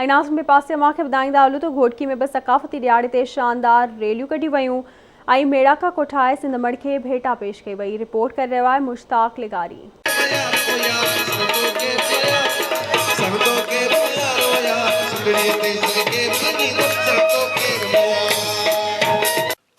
۽ ناظم ٻئي پاسي اوهان کي ٻڌائيندا هلون ته گهوٽڪي ۾ به ثقافتي ڏيهاڙي تي شاندار ريليون ڪڍيون ويون ۽ ميڙاڪا ڪوٺائي سنڌ مڙ کي ڀيٽا پيش ڪئي وئي رپورٽ ڪري رهيو آهي مشتاق لغاري.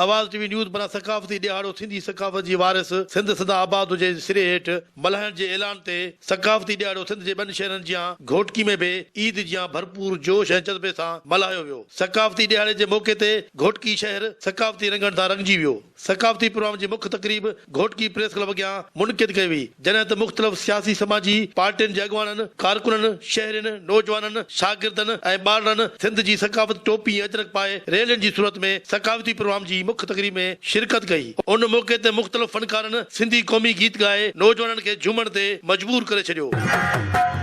آواز ٽي وي نيوز بران ثقافتي ڏيهاڙو سنڌي ثقافت جي وارث سنڌ سدا آباد هجي جي سري هيٺ ملهائڻ جي اعلان تي ثقافتي ڏيهاڙو سنڌ جي ٻن شهرن جيان گهوٽڪي ۾ به عيد جيان ڀرپور جوش ۽ جذبي سان ملهايو ويو ثقافتي ڏيهاڙي جي موقعي تي گهوٽڪي شهر ثقافتي رنگن سان رنگجي ويو ثقافتي پروام جي مک تقريب گهوٽڪي پريس ڪلب اڳيان منعقد ڪئي وئي، جڏهن ته مختلف سياسي سماجي پارٽين جي اڳواڻن، ڪارڪنن، شهرين، نوجوانن، شاگردن ۽ ٻارڙن سنڌ جي ثقافت ٽوپي ۽ اجرڪ پائي ريلين جي صورت ۾ ثقافتي پروگرام جي مک تقريب ۾ شرڪت ڪئي، ان موقعي تي مختلف فنڪارن سنڌي قومي گيت ڳائي نوجوانن کي جهومڻ تي مجبور ڪري ڇڏيو.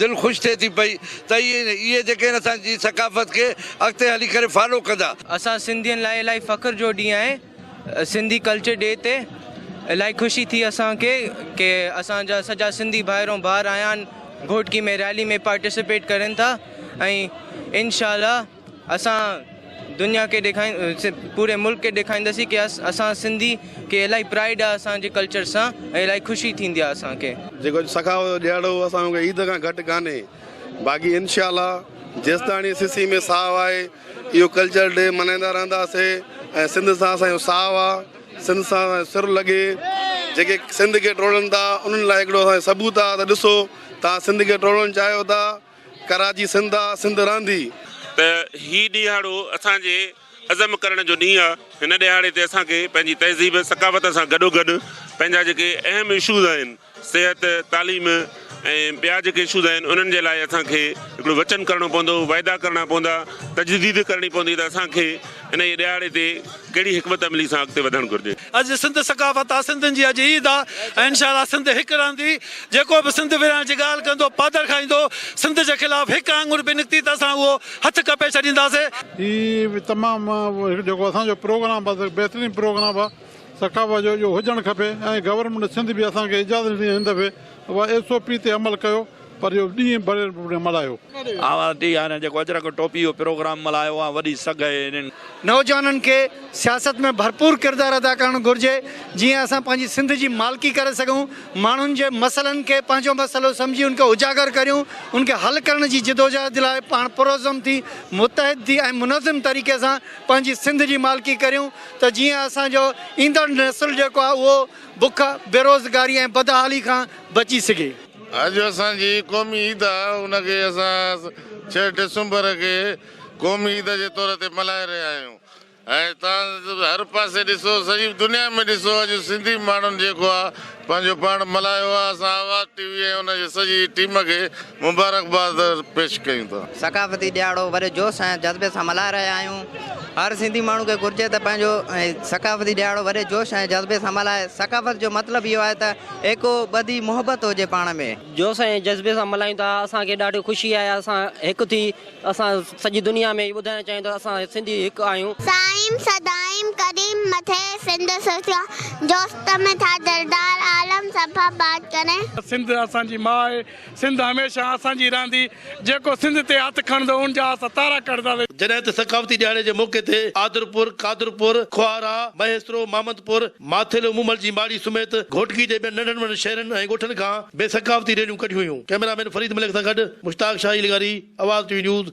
دل خوش ٿئي ٿي پئي ته اهي جيڪي آهن اسان جي ثقافت کي اڳتي هلي ڪري فالو ڪندا. اسان سنڌين لاء الائي فخر جو ڏينهن آهي سنڌي ڪلچر ڊي تي الائي خوشي ٿي اسان کي ڪي اسان جا سڄا سنڌي ڀائرون ڀار آيا آهن گهوٽڪي ۾ ريلي ۾ پارٽيسپيٽ ڪرين ٿا ۽ انشاء الله اسان دنيا کي ڏيکارين پوري ملڪ کي ڏيکارينداسين ڪي اسان سنڌي کي الاهي پرائيڊ آ اسان جي ڪلچر سان ۽ الاهي خوشي ٿيندي آ اسان کي. جيڪو اڄ سخاوت جو ڏيهاڙو هو اسان کي عيد کان گهٽ ڪانهي باقي انشاء الله جيستاڻي سسي ۾ ساهه آهي اهو ڪلچر ڊي ملهائيندا رهنداسي ۽ سنڌ سان اسان جو ساهه آ سنڌ سان اسان جو سر لڳي جيڪي سنڌ کي ٽوڙن ٿا انهن لاء هڪڙو اسان جو ثبوت آ ته ڏسو توهان سنڌ کي ٽوڙڻ چاهيو ٿا ڪراچي سنڌ آ، سنڌ رهندي. ته هي ڏيهاڙو اسان جي عزم ڪرڻ جو ڏينهن آهي، هن ڏيهاڙي تي اسان کي پنهنجي تهذيب ثقافت سان گڏوگڏ پنهنجا جيڪي اهم اشوز آهن صحت، تعليم ۽ ٻيا جيڪي اشوز آهن انهن جي لاء اسان کي هڪڙو وچن ڪرڻو پوندو، وعدا ڪرڻا پوندا، تجديد ڪرڻي پوندي ته اسان کي. انهيء ڏهاڙي تي ڪهڙي حڪمت عملي سان اڳتي وڌڻ گهرجي؟ اڄ سنڌ ثقافت آ، سنڌين جي اڄ عيد آ ۽ انشاء الله سنڌ هڪ رهندي، جيڪو به سنڌ ورهائڻ جي ڳالهه ڪندو پادر کائيندو، سنڌ جي خلاف هڪ آڱر به نڪتي ته اسان اهو هٿ ڪپي ڇڏينداسين. هي به تمام هڪ جيڪو اسان جو پروگرام آ سو بهترين پروگرام آ ثقافت جو اهو هجڻ کپي ۽ گورنمينٽ سنڌ به اسان کي اجازت ڏني هن دفعي اها ايس او پي تي عمل ڪيو پر اهو ڏينهن بڻيل پروگرام ملهايو. آء ورتي آ هن جيڪو اجرڪ ٽوپي اهو پروگرام ملهايو آ وڏي سگهه اهي انهن. نوجوانن کي سياست ۾ ڀرپور ڪردار ادا ڪرڻ گهرجي جيئن اسان پنهنجي سنڌ جي مالڪي ڪري سگهون ماڻهن جي مسئلن کي پنهنجو مسئلو سمجهي ان کي اجاگر ڪريون ان کي حل ڪرڻ جي جدوجهد لاء پاڻ پرعزم ٿي متحد ٿي ۽ منظم طريقي سان پنهنجي سنڌ جي مالڪي ڪريون ته جيئن اسان جو ايندڙ نسل جيڪو آ اهو بک بيروزگاري ۽ بدحالي کان بچي سگهي. اڄ اسان جي قومي عيد آ ان کي اسان ڇهه ڊسمبر کي قومي عيد جي طور تي ملهائي رهيا آهيون ۽ تان هر پاسي ڏسو سڄي دنيا ۾ ڏسو اڄ سنڌي ماڻهن جيڪو آ پنهنجو پاڻ ملهايو آ اسان آواز ٽي وي ۽ ان جي سڄي ٽيم کي مبارڪباد پيش ڪيون ٿا. ثقافتي ڏهاڙو وڏي جوش ۽ جذبي سان ملهائي رهيا آهيون هر سنڌي ماڻهو کي گهرجي ته پنهنجو ثقافتي ڏهاڙو وڏي جوش ۽ جذبي سان ملهائي ثقافت جو مطلب اهو آهي ته ايڪو ٻڌي محبت هجي پاڻ ۾. جوش ۽ جذبي سان ملهايون ٿا اسان کي ڏاڍي خوشي آهي اسان هڪ ٿي اسان سڄي دنيا ۾ اهي ٻڌائڻ چاهيون ٿا اسان سنڌي هڪ آهيون. سائين سدائين قديم مٿي سنڌ سوچيا جوست ۾ ٿا دلدار عالم سڀ آباد ڪرين. سنڌ اسان جي ماء سنڌ هميشه اسان جي رهندي، جيڪو سنڌ تي هٿ کڻندو ان جا اسان تارا ڪڍنداسين. جڏهن ته ثقافتي ڏهاڙي جي موقعي تي آدرپور، قادرپور، کوهارا، مهيسرو، مامدپور، ماٿيلو، مومل جي ماڙي سميت گهوٽڪي جي ٻين ننڍن وڏن شهرن ۽ ڳوٺن کان به ثقافتي ريليون ڪڍيون ويون. ڪئميرا مين فريد ملڪ سان گڏ مشتاق شاهي لغاري، آواز ٽي وي نيوز،